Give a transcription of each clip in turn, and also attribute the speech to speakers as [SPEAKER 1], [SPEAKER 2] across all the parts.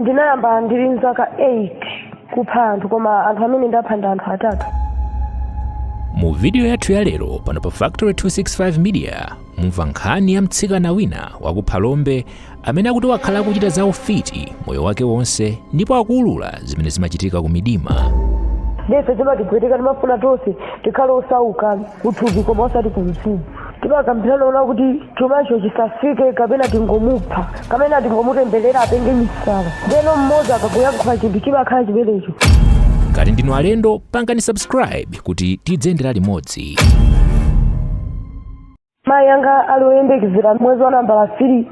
[SPEAKER 1] ndinayamba ndili mzaka 8 kupha anthu koma anthu amene ndapha ndi anthu
[SPEAKER 2] atatu mu vidiyo yathu ya lero pano pa factory 265 media mumva nkhani ya mtsikana wina wa ku phalombe amene akuti wakhala akuchita za ufiti moyo wake wonse ndipo akuulula zimene zimachitika ku midima ndiye
[SPEAKER 1] zimatipweteka timafuna tonse tikhale osauka kuthupi koma osati kumzimu Timakambirana kunena kuti chumacho chisafike kapena tingomupha kapena tingomutemberera apenge misala ndeno mmodzi akakuyankhula chinthu chimakhala chimenecho Ngati ndinu
[SPEAKER 2] alendo, pangani subscribe kuti tidziyendera
[SPEAKER 1] limodzi. mayi anga ali oyembekezera mwezi wa nambala 3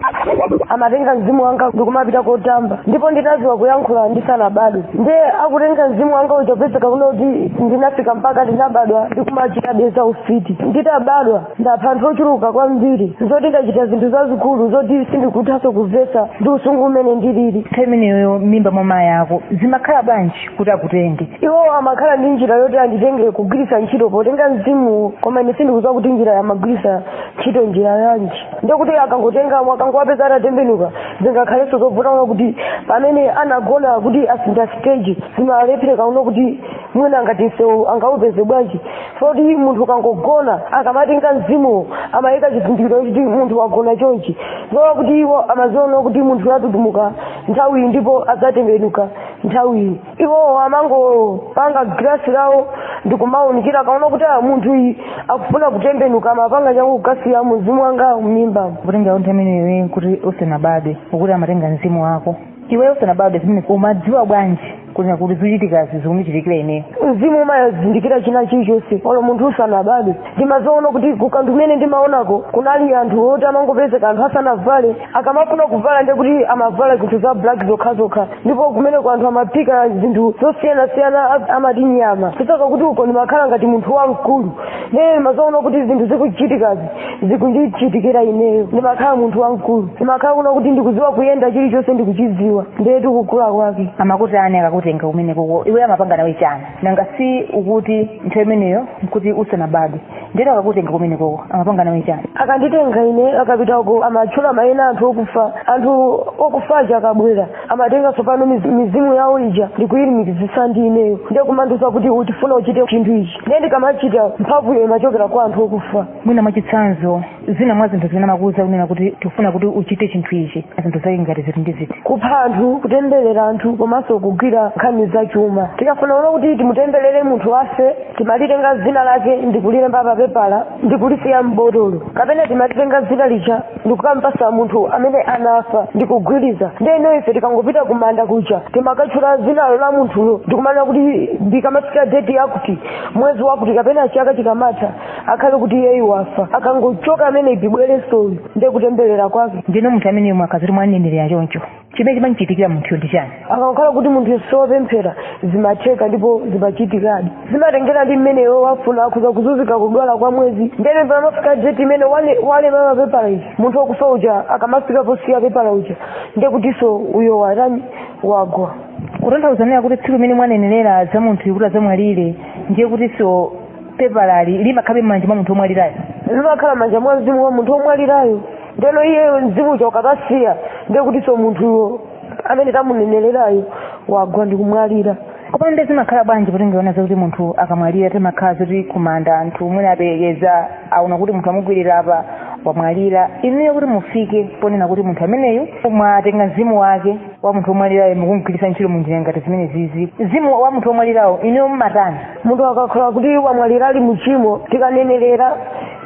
[SPEAKER 1] amatenga mzimu wanga ndikumapita kotamba ndipo ndinaziwa kuyankhula ndisanabadwe ndiye akutenga mzimu wanga uja kupezeka kunena kuti ndinafika mpaka ndinabadwa ndikumachita be za ufiti nditabadwa ndapha anthu ochuluka kwambiri zoti ndachita zinthu zazikulu zoti sindikuthanso kumvetsa ndi usinkhu umene ndilili nthawi imeneyo
[SPEAKER 3] mimba mwa mayi ako zimakhala bwanji kuti akutenge iwo amakhala
[SPEAKER 1] ndi njira yoti anditenge kugwiritsa ntchito potenga mzimu koma ine sindikudziwa kuti njira yo amagwiritsa ntchito njira yanji ndekuti akangotenga akangowapeza atatembenuka zingakhalenso zobvuta kunena kuti pamene anagona kuti asintha stage zimalephereka kunena kuti mwina ngati msewu angaupeze bwanji zoti munthu akangogona akamatenga mzimuwo amayika chizindikiro kuti munthu wagona chonchi zowa kuti iwo amaziwa kunena kuti munthuyu atutumuka nthawiyi ndipo adzatembenuka nthawiyi iwo amangopanga galasi lawo ndikumaunikira akaona kuti a munthuyu akufuna kutembenuka amapanga changu kukasiya mzimu wanga mmimba kutenga nthawi
[SPEAKER 3] imene ukuti usanabadwe ukuti amatenga mzimu wako iwe usanabadwe zimene umadziwa bwanji kunena kuti zochitikazi zikundichitikira ineyo mzimu
[SPEAKER 1] umazindikira china chilichonse olo munthu usanabadwe ndimaziona kuti kukanthu kumene ndimaonako kunali anthu oti amangopezeka anthu asanavale akamafuna kuvala ndiye kuti amavala zinthu za black zokhazokha ndipo kumeneko anthu amaphika zinthu zosiyanasiyana a- amati nyama chifukwa choti uko ndimakhala ngati munthu wamkulu nde ndimaziwa kunena kuti zinthu zikuchitikazi zikundichitikira ineyo ndimakhala munthu wamkulu ndimakhala kunena kuti ndikuziwa kuyenda chilichonse ndikuchiziwa ndiye chikukula kwake amakutani akakutenga
[SPEAKER 3] kumeneko iwe amapanga nawe chani nanga si ukuti nthawi imeneyo nkuti usanabadwe ndiyeno akakutenga kumenekoko amapanga nawe chani akanditenga ine
[SPEAKER 1] akapita uko amatchula mayina anthu okufa anthu okufa aja akabwera amatenga tsopano miz- mizimu yawo ija ndikuyilumikizisa ndi ineyo ndiye kumandiuza kuti tifuna uchite chinthu ichi ndiye ndikamachita mphamvuyo imachokera kwa anthu okufa mwina mwachitsanzo
[SPEAKER 3] zina mwa zinthu zimene amakuuza kunena kuti tikufuna kuti uchite chinthu ichi zinthu zake ngati ziti ndi ziti kupha anthu
[SPEAKER 1] kutemberera anthu komanso kugwira nkhani za chuma tikafuna kuona kuti timutemberere munthu afe timalitenga dzina lake ndikulilemba pa pepala ndikulisiya m'botolo kapena timalitenga dzina lija ndikukampasa munthu amene anafa ndikugwiritsa ndeno ife tikangopita kumanda kuja timakatchula dzinalo la munthulo ndikumanena kuti ikamafika deti yakuti mwezi wakuti kapena chaka chikamatha akhale kuti iyeyu wafa akangochoka amene ibibwerenso uyu ndiye kutemberera kwake ndeno munthu amene yemwe
[SPEAKER 3] akaziri mwanenelera choncho chimene chimamchitikira munthuyo ndi chani akakhala kuti munthu
[SPEAKER 1] si wopemphera zimatheka ndipo zimachitikadi zimatengera ndi mmene iwo wafuna akhoza kuzunzika kudwala kwa mwezi ndeno pamafika deti imene wale- walema papepala ija munthu wakufa uja akamafika posiya pepala uja ndiye kutinso uyo watani wagwa kutanthauza
[SPEAKER 3] kuti tsiku limene mwanenelera za munthuyu kuti adzamwalire ndiye kutinso pepalali limakhalabe m'manja mwa munthu omwalirayo limakhala m'manja
[SPEAKER 1] mwa mzimu wa munthu omwalirayo ndeno iyeyo mzimu uja ukakasiya ndiye kutinso munthuyo amene tamunenelerayo wagwa ndi kumwalira koma nde zimakhala
[SPEAKER 3] bwanji poti ndiona zakuti munthu akamwalira timakhala zoti kumanda anthu mwina aperekeza aona kuti munthu amukwirira apa wamwalira inuyo kuti mufike ponena kuti munthu ameneyu mwatenga mzimu wake wa munthu omwalirayo mukumgwiritsa ntchito munjira ngati zimenezizi mzimu wa munthu omwalirayo inuyo mumatani munthu akakhala kuti
[SPEAKER 1] wamwalira ali muchimo tikanenerera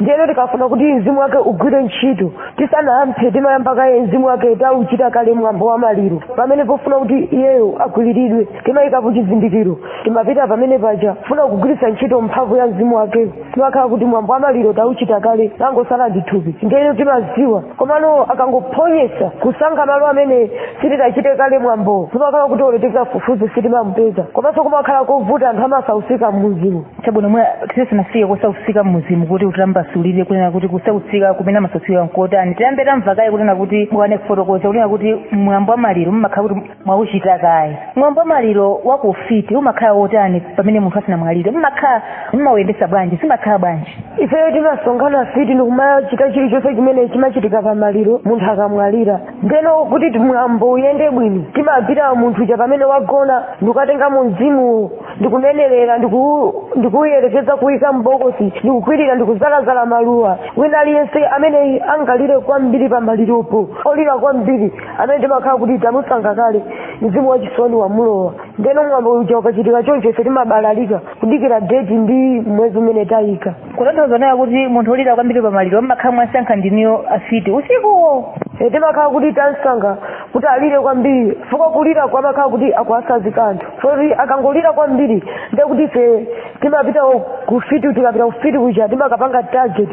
[SPEAKER 1] ndiyeno tikafuna kuti mzimu wake ugwire ntchito tisanamphe timayamba kaye mzimu wake tauchita kale mwambo wa maliro pamene pofuna kuti iyeyo akwiriridwe timayikapo chizindikiro timapita pamene paja kufuna kugwiritsa ntchito mphamvu ya mzimu wakeyo timakhala kuti mwambo wa maliro tauchita kale tangosala ndi thupi ndiyeno timaziwa komano akangophonyesa kusankha malo amene sitinachite kale mwambo timakhala kuti olo tikafufuze sitimamupeza komanso kumakhala kovuta anthu amasausika mmuzimu chabwino
[SPEAKER 3] mwina tisanafike kusausika mmuzimu kuti utitambasulire kunena kuti kusausika kumene amasausika nkotani tiyambe tamva kaye kunena kuti munali kufotokoza kunena kuti mwambo wa maliro mmakhala kuti mwauchita kaye mwambo wa maliro wa ku ufiti umakhala wotani pamene munthu asanamwalire
[SPEAKER 1] mmakhala
[SPEAKER 3] mmawuyendesa bwanji zimakhala bwanji ifeyo
[SPEAKER 1] timasonkhana
[SPEAKER 3] afiti ndikumachita chilichonse
[SPEAKER 1] chimene chimachitika pamaliro munthu akamwalira ndeno kuti mwambo uyende bwino timapita munthu uja pamene wagona ndikukatenga mu mzimuwo ndikunenerera ndiku- ndikuuyerekeza kuyika m'bokosi ndikukwirira ndikuzalazala maluwa wina aliyense amene angalire kwambiri pamaliropo olira kwambiri amene timakhala kuti tamusankha kale mzimu wachisoni wamulowa ndeno mwambo uja ukachitika choncho ife timabalalika kudikira deti ndi mwezi umene tayika kutanthauza kunena kuti
[SPEAKER 3] munthu olira kwambiri pamaliro mmakhala mwasankha ndinuyo afiti usikuwo Eh, timakhala
[SPEAKER 1] kuti tamsankha kuti alire kwambiri chifukwa kulirako amakhala kuti akuwatsanzika anthu moti akangolira kwambiri ndekuti ife timapita kufiti tikapita kufiti kuja timakapanga target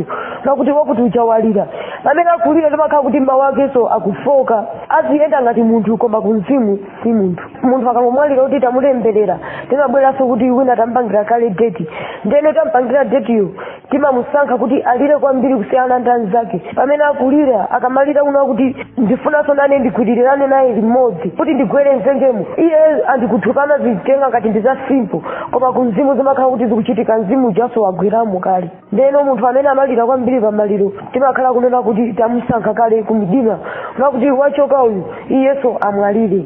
[SPEAKER 1] pakuti wakuti uja walira pamene akulira timakhala kuti mawu akenso akufoka aziyenda ngati munthu koma kumzimu si munthu munthu akangomwalira kuti tamulemberera timabweranso kuti uja tampangira kale deti ndeno tampangira detiyo timamusankha kuti alire kwambiri kusiyana ndi anzake pamene akulira akamalira kunena kuti ndifunanso nane ndigwirirane naye limodzi kuti ndigwere mdzenjemo iye ali kuthukana zitenga ngati ndi za simple koma ku mzimu zimakhala kuti zikuchitika mzimu ujaso wagweramo kale ndeno munthu amene amalira kwambiri pamaliro timakhala kunena kuti tamusankha kale kumdima kunena kuti wachoka uyu iyenso amwalire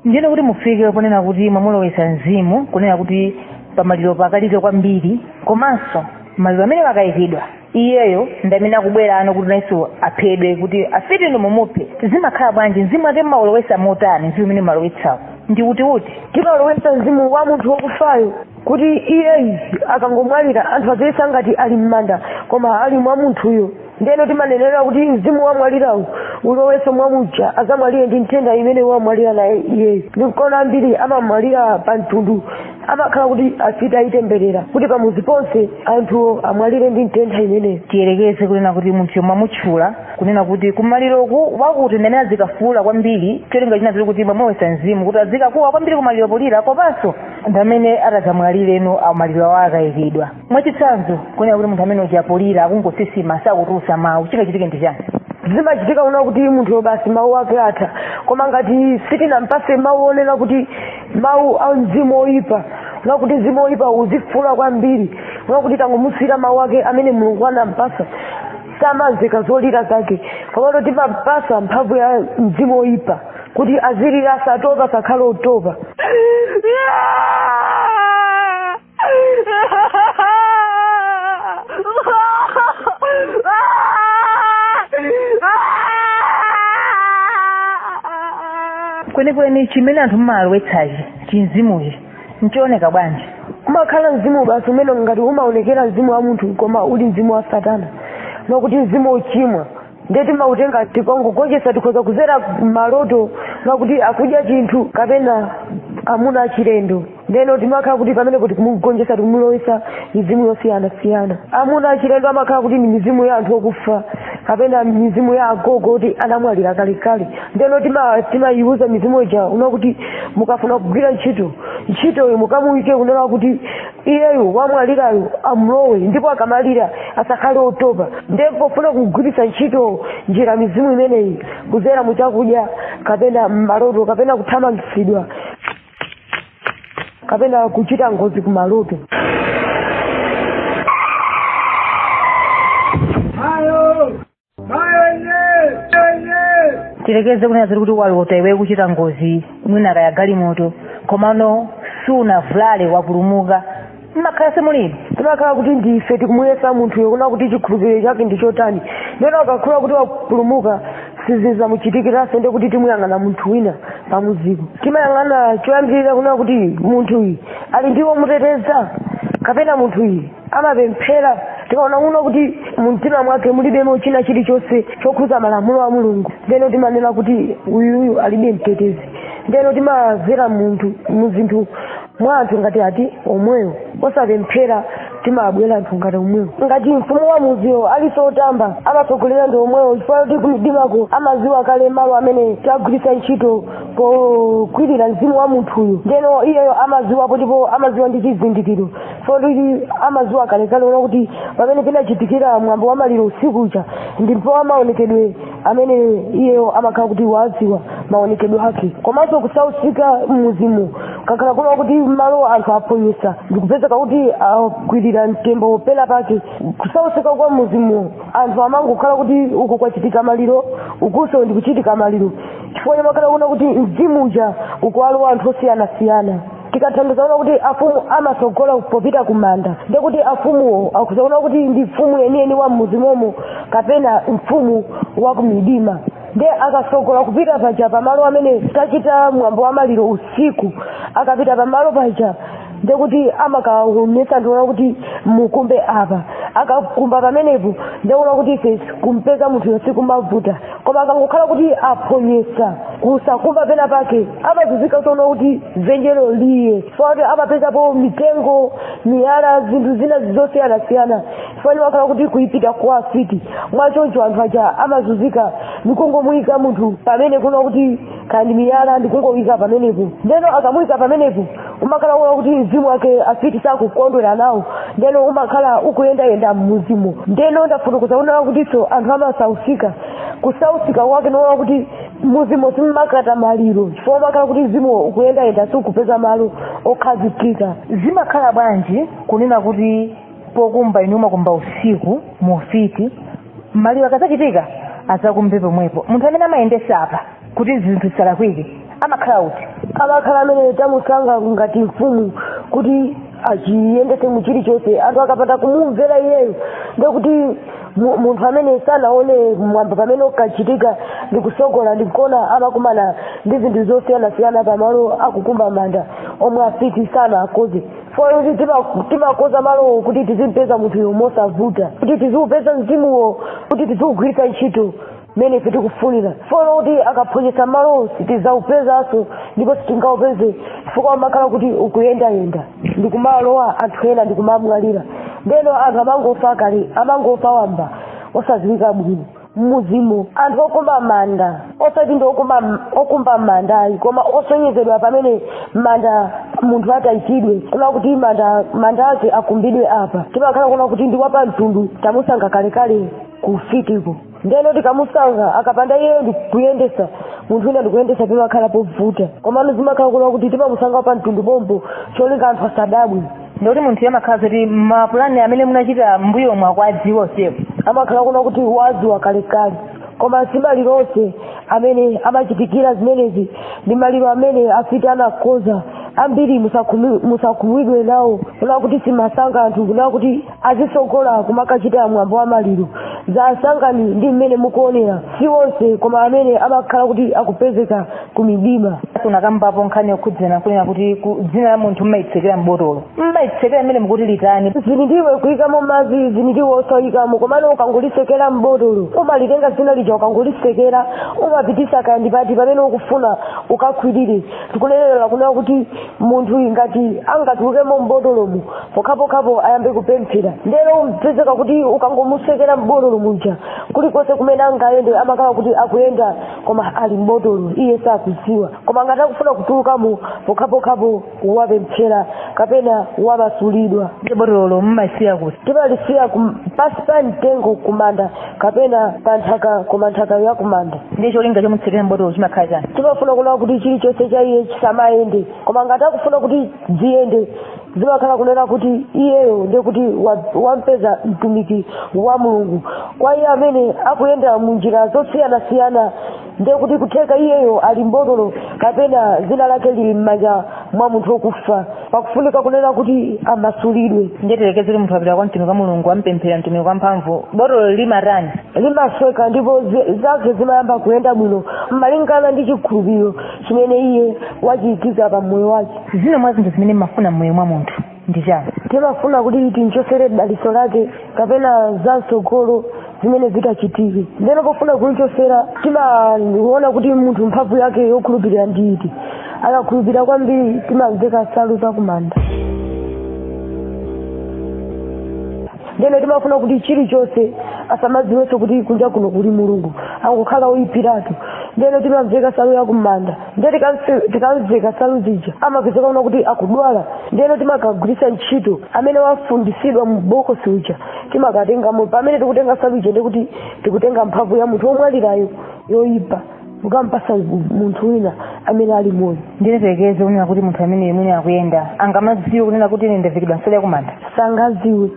[SPEAKER 1] ndiyeno
[SPEAKER 3] kuti mufike ponena kuti mwamulowetsa mzimu kunena kuti pamaliro akalire kwambiri komanso maliro amene akayikidwa iyeyo ndi amene akubwerano kuti nayenso aphedwe kuti afiti inu mumuphe zimakhala bwanji mzimu wakewo mmaulowetsa motani mzimu umene mmalowetsawo ndi utiuti timalowetsa mzimu
[SPEAKER 1] wa munthu wakufayo kuti iyeyu akangomwalira anthu aziyesa ngati ali m'manda koma ali mwa munthuyo ndeno timanenera kuti mzimu wamwalirawu ulowenso mwa muja azamwalire ndi nthenda imene wamwalira naye iyeyo ndi kuona ambiri amamwalira pa mtundu amakhala kuti afiti ayitemberera kuti pamuzi ponse anthu amwalire ndi nthenda imeneyo tiyerekeze kunena
[SPEAKER 3] kuti munthuyo mwamutchula kunena kuti kumaliroku wakuti ndamene azikafuula kwambiri cholinga china chake kuti mwamulowetsa mzimu kuti azikakuwa kwambiri kumaliro polira komanso ndi amene atadzamwalirenso maliro awo akayikidwa mwachitsanzo kunena kuti munthu amene uja polira akungosisima sakutulutsa mawu chingachitike ndi chani zimachitika kunena
[SPEAKER 1] kuti munthu basi mawu ake atha koma ngati sitinampase mawu onena kuti mawu a mzimu oyipa kunena kuti mzimu oyipa uzifuula kwambiri kunena kuti tangomusiyira mawu ake amene mulungu anampasa samamveka zolira zake komano timampasa mphamvu ya mzimu oyipa kuti azilira asatopa asakhale
[SPEAKER 3] otopa kwenikweni chimene anthu mumalowetsachi chimzimuchi nchooneka bwanji umakhala mzimu
[SPEAKER 1] basi umene ngati umaonekera mzimu wa munthu koma uli mzimu wa satana kunena kuti mzimu ochimwa ndiye timautenga tikangogonjetsa tikhoza kuzera mmaloto kunena kuti akudya chinthu kapena amuna achilendo ndeno timakhala kuti pamenepo tikumugonjetsa tikumulowesa mizimu yosiyanasiyana amuna achilendo amakhala kuti ndi mizimu ya anthu okufa kapena mizimu ya agogo kuti anamwalira kalekale ndeno tima- timayiuza mizimu ija kunena kuti mukafuna kugwira ntchito ntchitoyo mukamuyike kunena kuti iyeyu wamwalirayo amulowe ndipo akamalira asakhale otopa ndiye pofuna kugwiritsa ntchito njira mizimu imeneyi kuzera mu chakudya kapena mmaloto kapena kuthamangitsidwa kapena kuchita ngozi kumaloto
[SPEAKER 3] tilekeze kunena zoti kuti walota iwe kuchita ngozi mwina kaya galimoto komano sunavulale wapulumuka mumakhala simulimo timakhala kuti ndife
[SPEAKER 1] tikumuyesa munthuyo kuna kuti chikhulupiriro chake ndi chotani ndeno akakhala kuti wapulumuka sizizamuchitikiranso nde kuti timuyang'ana munthu wina pamuziko timayang'ana choyambirira kuna kuti munthuyi ali ndi womuteteza kapena munthuyi amapemphera tikaona kuna kuti mumtima mwake mulibemo china chilichonse chokhuza malamulo a mulungu ndeno timanena kuti uyuyu alibe mtetezi ndeno timazera munthu muzinthu mwa anthu ngati ati omwewo osapemphera timabwera anthu ngati omwewo ngati mfumu wa muziwo aliso otamba amatsogolera ndi omwewo chifukwa kuti kumdimako amaziwa kale malo amene tagwiritsa ntchito pogwirira mzimu wa munthuyo ndeno iyeyo amaziwapo ndipo amaziwa ndi chizindikiro kuti amaziwa kalekale ona kuti pamene pinachitikira mwambo wa maliro usiku uja ndipo amaonekedwe amene iyeyo amakhala kuti wadziwa maonekedwe ake komanso kusausika mmuzimo akakhala kuna kuti malo anthu aphonyesa ndikupezeka kuti akwirira mtembo pena pake kusausika kwa mmuzimo anthu amangokhala kuti uku kwachitika maliro ukunso ndikuchitika maliro chifukwa chomakhala kuna kuti mzimu uja ukuwalowa anthu osiyanasiyana tikatanthauza ona kuti afumu amatsogola popita ku manda ndi kuti afumuwo akuzaona kuti ndi mfumu yeniyeni wa mmuzimomo kapena mfumu wa kumidima nde akatsogola kupita paja pamalo amene tachita mwambo wa maliro usiku akapita pamalo paja nde kuti amakaonetsa ndiona kuti mukumbe apa akakumba pamenepo ndekuona kuti ife kumpeza munthuyo sikumavuta koma akangokhala kuti aphonyesa kusakumba pena pake amazuzika zoona kuti zenjelo liye chifukwa kuti amapezapo mitengo miyala zinthu zina zosiyanasiyana chifukwa kuti wakhala kuti kuipita kwa afiti mwachoncho anthu aja amazuzika ndikungomuyika munthu pamene kuna kuti kandi miyala ndikungomuyika pamenepo ndeno akamuyika pamenepo umakhala uona kuti mzimu wake afiti sakukondwera nawo ndeno umakhala ukuyendayenda mmuzimo ndeno ndafotokoza kunena kutinso anthu amasausika kusausika kwake noona kuti mmuzimo simumakata maliro chifukwa umakhala kuti mzimu ukuyendayenda sikupeza malo okhazikika
[SPEAKER 3] zimakhala bwanji kunena kuti pokumba inu mumakumba usiku mufiti maliro akazachitika azakumbe pomwepo munthu amene amayendesa apa kuti zinthu zisalakwike amakhala uti amakhala
[SPEAKER 1] amene tamusanga ngati mfumu kuti achiyendetse mu chilichonse anthu akapanda kumumvera iyeyo ndekuti mu- munthu amene sanaone mwambo pamene ukachitika ndi kusogola ndi kuona amakumana ndi zinthu zosiyanasiyana pamalo akukumba manda omwe afiti sanaakoze fora kuti tima- timakoza malowo kuti tizimpeza munthuyo mosavuta kuti tiziupeza mzimuwo kuti tiziugwiritsa ntchito mmene ife tikufunira folo kuti akaphonyesa malo sitidzaupezanso ndipo sitingaupeze chifukwa umakhala kuti ukuyendayenda ndi kumalowa anthu ena ndi kumamwalira ndeno anthu amangofa kale amangofa wamba osadziwika bwino mmuzimu anthu okumba manda osati ndi okumba manda ayi koma osonyezedwa pamene manda munthu atayikidwe kuna kuti manda manda ake akumbidwe apa timakhala kuna kuti ndi wapamtundu tamusanga kalekale kufitiko ndeno tikamusanga akapanda iye ndikuyendesa munthu wina ndikuyendesa pimakhala povuta komano zimakhala kunena kuti timamusanga wapa mtundu pompo cholinga anthu asadabwe ndikuti munthu iye amakhala
[SPEAKER 3] zoti mapulani amene munachita mbuyomu akuwadziwa usiku amakhala kunena
[SPEAKER 1] kuti wadziwa kalekale koma si maliro onse amene amachitikira zimenezi ndi maliro amene afiti anakoza ambiri musakhumudwe nawo kunena kuti simasanga anthu kunena kuti azitsogola kumakachita mwambo wa maliro za asangani ndi mmene mukuonera si onse koma amene amakhala kuti akupezeka ku midima unakambapo nkhani
[SPEAKER 3] yokhudzana kunena kuti ku- dzina la munthu mmalitsekera m'botolo mmalitsekera mmene mukuti litani zili ndi iwe
[SPEAKER 1] kuyikamo madzi zili ndi iwe osayikamo komano ukangolisekera m'botolo umalitenga zina lija ukangolisekera umapitisa kaya ndi pati pamene ukufuna ukakhwirire tikunenera kunena kuti munthu ngati angatulukemo mbotolomu pokhapokhapo ayambe kupemphera ndero umpezeka kuti ukangomusekera mbotolo muja kulikonse kumene angayende amakhala kuti akuyenda koma ali mbotolo iye sakuziwa koma ngati akufuna kutulukamo pokhapokhapo wapemphera kapena wamasulidwa ndiye botololo
[SPEAKER 3] mumalisiya kuti timalisiya kum-
[SPEAKER 1] pasi pa mtengo kumanda kapena pa nthaka koma nthaka yakumanda ndiye cholinga chomutsekera
[SPEAKER 3] mbotolo chimakhala chani timafuna kunena kuti
[SPEAKER 1] chilichonse cha iye chisamayende koma ngati akufuna kuti ziyende zimakhala kunena kuti iyeyo ndiye kuti wa- wampeza mtumiki wa mulungu kwa iye amene akuyenda mu njira zosiyanasiyana ndiye kuti kutheka iyeyo ali mbotolo kapena dzina lake lili m'manja mwa munthu wokufa pakufunika kunena kuti amasulidwe ndiye tiyerekeze munthu
[SPEAKER 3] wapita kwa mtumiki wa mulungu ampemphera mtumiki wa mphamvu botolo limatani limasweka
[SPEAKER 1] ndipo zi- zake zimayamba kuyenda bwino malingana ndi chikhulupiriro chimene iye wachiikiza pa moyo wake zina mwa zinthu zimene
[SPEAKER 3] mmafuna mmoyo mwa munthu ndi chani timafuna kuti
[SPEAKER 1] tinchosere dalitso lake kapena za mtsogolo zimene zitachitike ndeno pofuna kunchosera timaona kuti munthu mphamvu yake yokhulupirira ndi iti akakhulupirira kwambiri timamveka nsalu zakumanda ndeno timafuna kuti chilichonse asamadziwenso kuti kunja kuno kuli mulungu angokhala oyipiratu ndeno timamveka nsalu yakumanda ndiye tikamsi- tikamveka nsalu zija amapezeka kuona kuti akudwala ndiyeno timakagwiritsa ntchito amene wafundisidwa mu bokosi uja timakatengamo pamene tikutenga nsalu ija ndikuti tikutenga mphamvu ya munthu womwalirayo yoyipa kukampasa munthu wina amene ali moyo ndeno tiyerekeze kunena
[SPEAKER 3] kuti munthu amene mwina akuyenda angamadziwe kunena kuti ine ndavekedwa nsalu yakumanda sangaziwe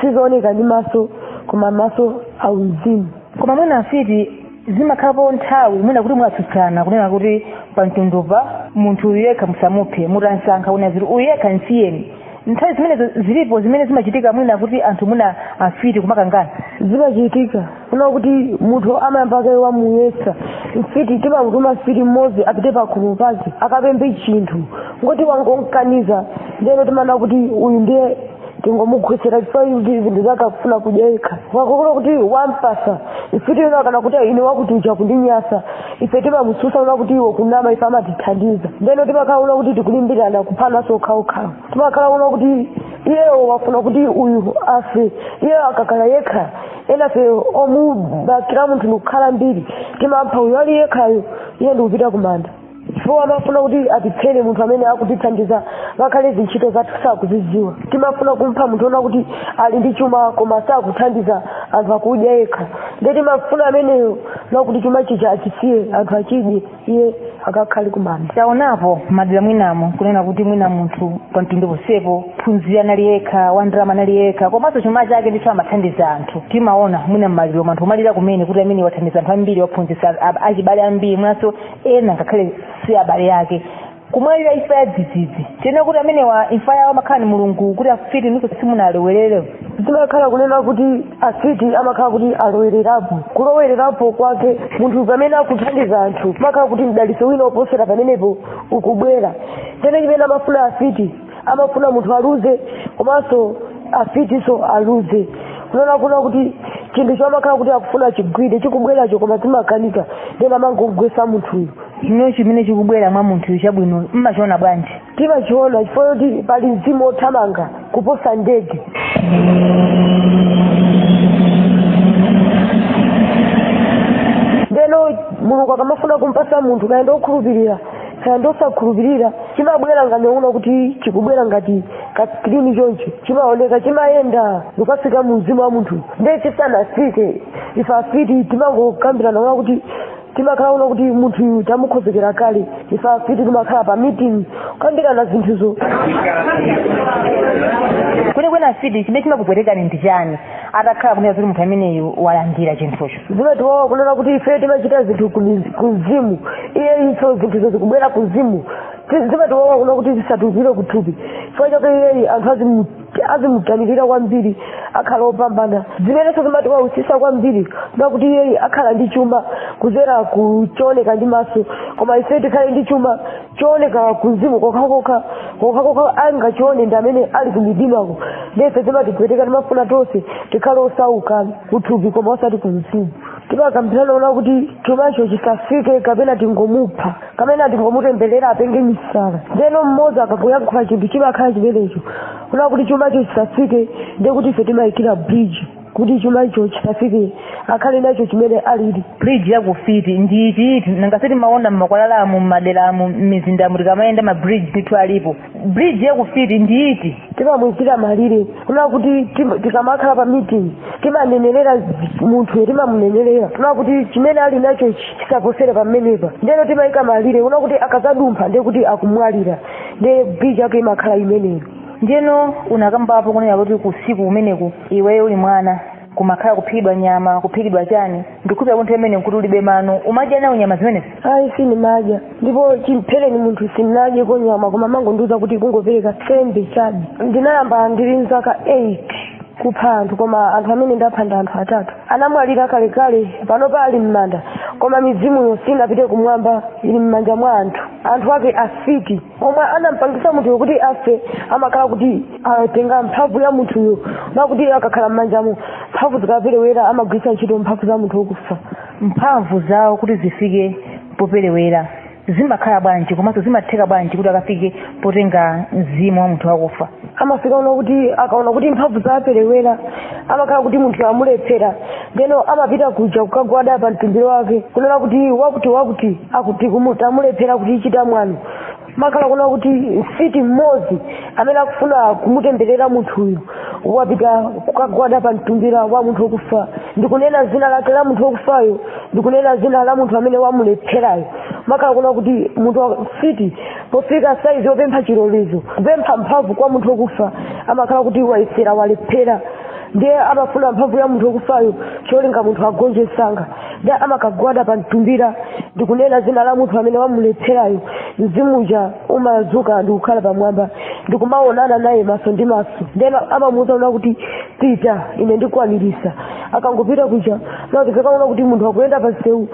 [SPEAKER 1] sizooneka ndi maso koma maso auzimu koma mwina afiti
[SPEAKER 3] zimakhalapo nthawi mwina kuti mwatsutsana kunena kuti pamtundupa munthu uyu yekha musamuphe mutansankha kunena zoti uyu yekha nsiyeni nthawi zimenezo zilipo zimene zimachitika mwina kuti anthu mwina afiti kumakangana
[SPEAKER 1] zimachitika kuna kuti munthu amayamba kaye wamuyesa mfiti timamutuma mfiti mmodzi apite pakhomo pake akapemphe chinthu ngoti wangonkaniza ndeno timana kuti uyu ndiye tingomugwetsera chifukwa kuti zinthu zake akufuna kudya yekha wakokona kuti wampasa mfiti ina akanena kuti ine wakuti uja akundinyasa ife timamususa una kuti iwe ukunama ife amatithandiza ndeno timakhala una kuti tikulimbirana kuphananso okhaokhawo timakhala una kuti iyewo wafuna kuti uyu afe iyewo akakhala yekha enafe omubakira munthu ndikukhala ambiri timapha uyu ali yekhayo iye ndikupita kumanda chifukwa amafuna kuti atiphere munthu amene akutithandiza ngakhale zintchito zathu sakuzidziwa timafuna kumpha munthu ona kuti ali ndi chuma koma sakuthandiza anthu akudya yekha nde timafuna ameneyo nakuti chuma chija achisiye anthu achidye iye akakhale kumanda taonapo
[SPEAKER 3] madera mwinamo kunena kuti mwina munthu pa mtundu posepo ophunzira anali yekha wandalama anali yekha komanso chuma chake ndicho amathandiza anthu timaona mwina mmaliromu anthu kumalira kumene kuti amene wathandiza anthu ambiri waphunzitsa a- achibale ambiri mwinanso ena ngakhale si abale ake kumwalira imfa ya dzidzidzi tinena kuti amenewa imfa yawo amakhala ni mulungu kuti afiti inuyo simunalowerere zimakhala kunena
[SPEAKER 1] kuti afiti amakhala kuti alowererapo kulowererapo kwake munthu pamene akuthandiza anthu amakhala kuti mdalitso wina oposera pamenepo ukubwera ndeno chimene amafuna afiti amafuna munthu aluze komanso afitiso aluze unaona kuna kuti chinthucho amakhala kuti akufuna achigwire chikubweracho koma zimakanika ndeno amangogwesa munthuyu ndeno chimene
[SPEAKER 3] chikubwera mwa munthuyu chabwino mmachiona bwanji timachiona
[SPEAKER 1] chifukwa kuti pali mzimu othamanga kuposa ndege ndeno mulungu akamafuna kumpasa munthu kaya ndi okhulupirira kaya ndosakhulupirira chimabwera ngati una kuti chikubwera ngati kaskrini choncho chimaoneka chimayenda ndikafika mu mzimu wa munthu ndiye chisanafike ife afiti timangokambirana una kuti timakhala una kuti munthu tamukhozekera kale ife afiti timakhala pa meeting kukambirana
[SPEAKER 3] zinthuzo kwenikweni afiti chimene chimakupwetekani ndi chani atakhala kunena kuti munthu ameneyu walandira chinthucho zimatiwawa kunena
[SPEAKER 1] kuti ife timachita zinthu kumzimu iye iso zinthuzo zikubwera kumzimu zimatiwawa kunena kuti zisatulukire kuthupi chifukwa chake iyeyi anthu azimutamikira kwambiri akhala opambana zimenenso zimatiwawisisa kwambiri nakuti iyeyi akhala ndi chuma kuzera kuchooneka ndi maso koma ife tikhale ndi chuma chooneka kumzimu kokhakokha kokhakokha angachione ndi amene ali kumidimako nde ife zimatipweteka timafuna tonse tikhale osauka kuthupi koma osati kumzimu timakambirana una kuti chumacho chisafike kapena tingomupha kapena tingomutemberera apenge misala ndeno mmodzi akangoyankhula chinthu chimakhala chimenecho una kuti chumacho chisafike ndiye kuti ife timayikira bridge kuti chuma icho chisafike akhale nacho chimene alili bridge ya
[SPEAKER 3] kufiti ndi iti iti nanga sitimaona mmakwalalamu mmaderamu mmizindamu tikamayenda ma bridge ndithu alipo bridge ya kufiti ndi iti timamuyikira malire
[SPEAKER 1] kuna kuti tikamakhala pa meeting timanenerera munthuyo timamunenerera kuna kuti chimene ali nacho chi- chisaposere pamenepa ndeno timayika malire kuna kuti akazadumpha ndiye kuti akumwalira ndiye bridge yake imakhala imeneyo ndiyeno
[SPEAKER 3] unakambapo kunena kuti kusiku kumeneku iweyo uli mwana kumakhala kuphikidwa nyama kuphikidwa chani ndikhuza kuti pamene nkuti ulibe mano umadya nawo nyama zimenezi ayi sinimadya
[SPEAKER 1] ndipo chimphereni munthu sinadyeko nyama koma mangondiuza kuti kungopereka sembe chabe ndinayamba ndili mzaka 8 kupha anthu koma anthu amene ndapha ndi anthu atatu anamwalira kalekale panopa ali m'manda koma mizimuyo sinapite kumwamba ili m'manja mwa anthu anthu ake afiti omwe anampangisa munthuyo kuti afe amakhala kuti atenga mphamvu ya munthuyo nakuti akakhala m'manjamo mphamvu zikaperewera amagwiritsa ntchito mphamvu za munthu wokufa mphamvu zawo
[SPEAKER 3] kuti zifike poperewera zimakhala bwanji komanso zimatheka bwanji kuti akafike potenga mzimu wa munthu wakufa amafika una
[SPEAKER 1] kuti akaona kuti mphamvu zaperewera amakhala kuti munthu amulephera ndeno amapita kuja kukagwada pa mtumbira wake kunena kuti wakuti wakuti akuti tamulephera kuti achita mwano makhala kuna kuti mfiti mmodzi amene akufuna kumutemberera munthuyu wapita kukagwada pa mtumbira wa munthu wokufa ndikunena zina lake la munthu wokufayo ndikunena zina la munthu amene wamulepherayo makhala kuna kuti munthu mfiti pofika saizi yopempha chilolezo kupempha mphamvu kwa munthu wokufa amakhala kuti wayesera walephera ndiye amafuna mphamvu ya munthu wokufayo cholinga munthu agonje msanga ndi amakagwada pa mtumbira ndikunena dzina la munthu amene wamulepherayo mzimu uja umadzuka ndikukhala pamwamba ndikumaonana naye maso ndi maso ndeno amamuuza una kuti pita ine ndikwanirisa akangopita kuja mukazakaona kuti munthu akuyenda pa msewu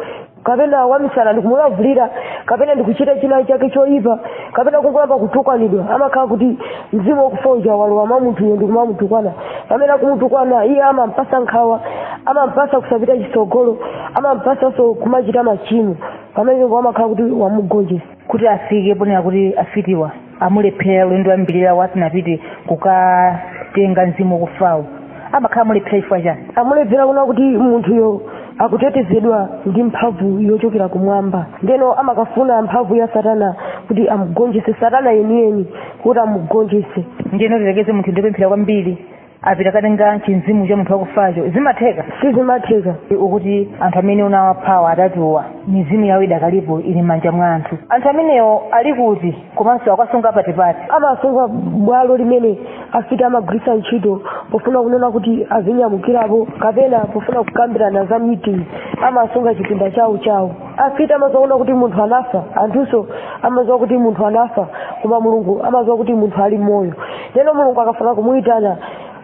[SPEAKER 1] kapena wamisala ndikumulavulira kapena ndikuchita china chake choyipa kapena kungoyamba kutukwanidwa amakhala kuti mzimu wakufa uja walowa mwa munthuyo ndi kumamutukwana pamene akumutukwana iye amampasa nkhawa amampasa kusapita chitsogolo amampasanso kumachita machimo pamenepo amakhala kuti wamugonjesa kuti
[SPEAKER 3] afike ponena kuti afitiwa amulephera ulendo wambiri asanapite kukatenga mzimu wakufawo amakhala amulephera chifukwa chani amulephera kuna
[SPEAKER 1] kuti munthuyo akutetezedwa ndi mphamvu yochokera kumwamba ndeno amakafuna mphamvu ya satana kuti amugonjese satana yeniyeni kuti amugonjese ndiyeno
[SPEAKER 3] tiyerekeze munthu ndi opemphera kwambiri apita katenga chimzimu cha munthu wakufacho zimatheka
[SPEAKER 1] sizimatheka ukuti anthu
[SPEAKER 3] amene unawaphawa atatuwa mizimu yawo idakalipo ili m'manja mwa anthu anthu amenewo ali kuti komanso akuwasunga pati pati amawasunga bwalo
[SPEAKER 1] limene afiti amagwiritsa ntchito pofuna kunena kuti azinyamukirapo kapena pofuna kukambirana za meeting amawasunga chipinda chawo chawo afiti amaziwa una kuti munthu anafa anthunso amaziwa kuti munthu anafa koma mulungu amaziwa kuti munthu ali moyo ndeno mulungu akafuna kumuyitana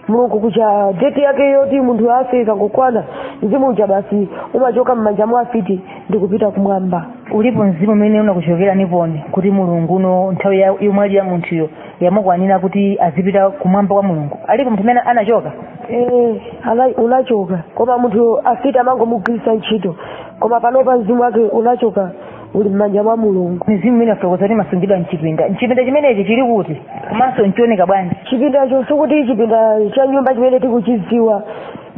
[SPEAKER 1] mulungu kuja deti yake yoti munthu afe ikangokwana mzimu uja basi umachoka m'manja mwa afiti ndikupita kumwamba ulipo mzimu umene
[SPEAKER 3] unakuchokera niponi kuti mulungu uno nthawi ya- yomwalira munthuyo yamukwanira kuti azipita kumwamba kwa mulungu alipo munthu amene anachoka Eh, ana- unachoka
[SPEAKER 1] koma munthu afiti amangomugwiritsa ntchito koma panopa mzimu wake unachoka uli m'manja mwa mulungu mizimu imene wafotokoza
[SPEAKER 3] kuti imasungidwa mchipinda mchipinda chimenechi chili kuti komanso nchooneka bwanji chipindacho sikuti
[SPEAKER 1] chipinda cha nyumba chimene tikuchidziwa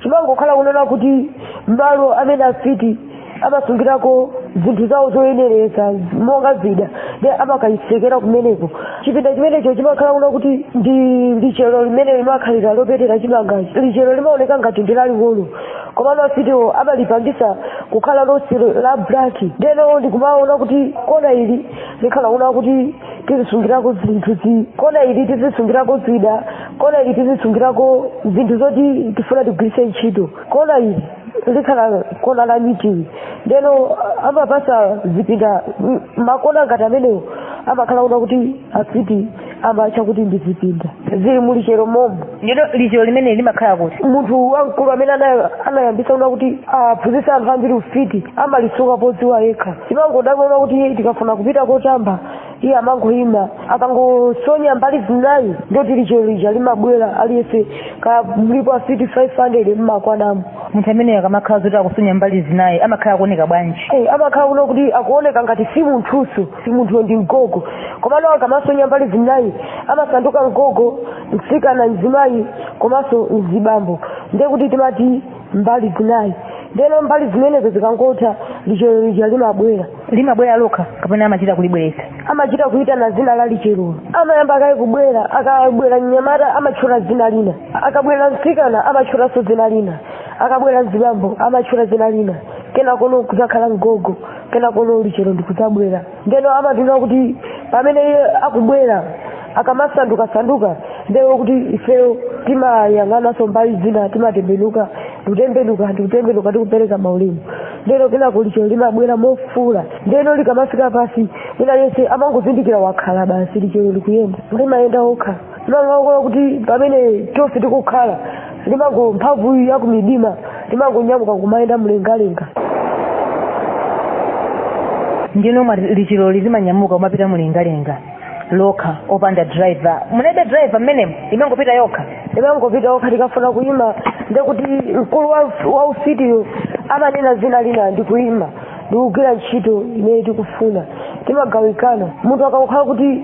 [SPEAKER 1] chimangokhala kunena kuti malo amene afiti amasungirako zinthu zawo zoyenereza monga zida nde amakayitsekera kumeneko chipinda chimenecho chimakhala kuna kuti ndi lichero limene limakhalira lopetera chimangachi lichero limaoneka ngati ndi laling'ono komano afitiwo amalipangisa kukhala lonse la black ndeno ndikumaona kuti kona ili likhala una kuti tizisungirako zinthu zi kona ili tizisungirako zida kona ili tizisungirako zinthu zoti tifuna tigwiritse ntchito kona ili likhala kona la meeting ndeno amapasa zipinda m- makona ngati amenewo amakhala una kuti afiti amatcha kuti ndi zipinda zili mu lichero momomo ndeno lichero
[SPEAKER 3] limene limakhala kuti munthu wamkulu
[SPEAKER 1] amene ana- anayambitsa kuna kuti aphunzitsa anthu ambiri ufiti amalisunga podziwa yekha timangodabwa kuti tikafuna kupita kotamba iye amangoyima akangosonya mbali zinayi ndoti lichero lija limabwera aliyense kaya mulipo afiti 500 mmakwanamo munthu ameneyo akamakhala
[SPEAKER 3] zoti akusonya mbali zinayi amakhala akuoneka bwanji Eh, amakhala kuno kuti
[SPEAKER 1] akuoneka ngati si munthuso si munthuyo ndi ngogo komano akamasonya mbali zinayi amasanduka ngogo mtsikana mzimayi komanso mzibambo ndiye kuti timati mbali zinayi ndeno mbali zimenezo zikangotha lichero lija limabwera limabwera lokha kapena amachita kulibweretsa amachita kuitana zina la licherolo amayamba akaye kubwera akabwera mnyamata amatchula zina lina akabwera mtsikana amatchulanso zina lina akabwera mzibambo amatchula zina lina kenakono kuzakhala ngogo kenako lichero ndikudzabwera ndeno amatina kuti pamene iye akubwera akamasanduka sanduka ndeo kuti ifeyo timayang'ananso mbali zina timatembenuka ndikutembenuka ndikutembenuka tikupereka maulemu ndeno kenako lichero limabwera mofula ndeno likamafika pasi wina yense amangozindikira wakhala basi lichero likuyenda limayenda okha limangokhala kuti pamene tonse tikukhala limango mphamvu ya kumidima limangonyamuka kumayenda
[SPEAKER 3] mlengalenga ndeno lichiloli limanyamuka kumapita mlengalenga lokha opanda driver mulibe driver mmenemo imangopita yokha imangopita
[SPEAKER 1] yokha tikafuna kuyima ndekuti mkulu wa- wa ufitiyo amanena zina lina ndikuyima ndikugwira ntchito imene tikufuna timagawikana munthu akakhala kuti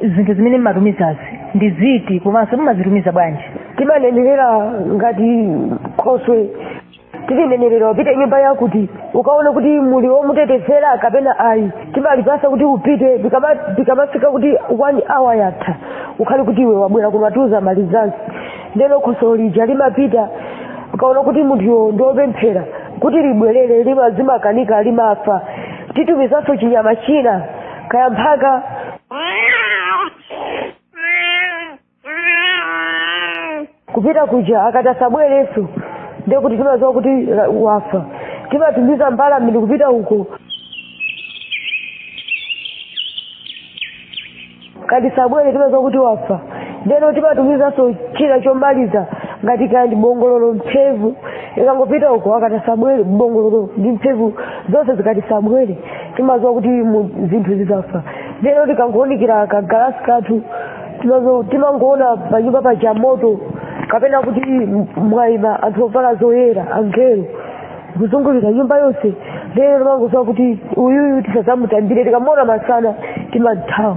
[SPEAKER 3] zinthu zimene mmatumizazi ndi ziti komanso mmazitumiza bwanji
[SPEAKER 1] timanenerera ngati khoswe tilinenerera upite nyumba yakuti ukaone kuti muli womutetezera kapena ayi timalipasa kuti upite tikama- tikamafika kuti one hour yatha ukhale kuti iwe wabwera kuno utiuze malizansi ndeno khoswe lija limapita ukaona kuti munthuyo ndiopemphera kuti libwerere limazimakanika limafa titumizanso chinyama china kaya mphaka kupita kuja akati asabwereso ndiye kuti timaziwa kuti la- wafa timatumiza mbalame ndi kupita uko ikati sabwere timaziwa kuti wafa ndeno timatumizanso china chomaliza ngati kaya ndi bongololo mphevu ikangopita uko akati asabwere bongololo ndi mphevu zonse zikati sabwere timaziwa kuti mu- zinthu zidzafa ndeno tikangoonikira kagalasi kathu timazo- timangoona panyumba paja moto kapena kuti m- mwaima anthu ovala zoyera angelo kuzungulira nyumba yonse ndeno timangoziwa kuti uyuyu tisadzamutambire tikamuona masana timathawa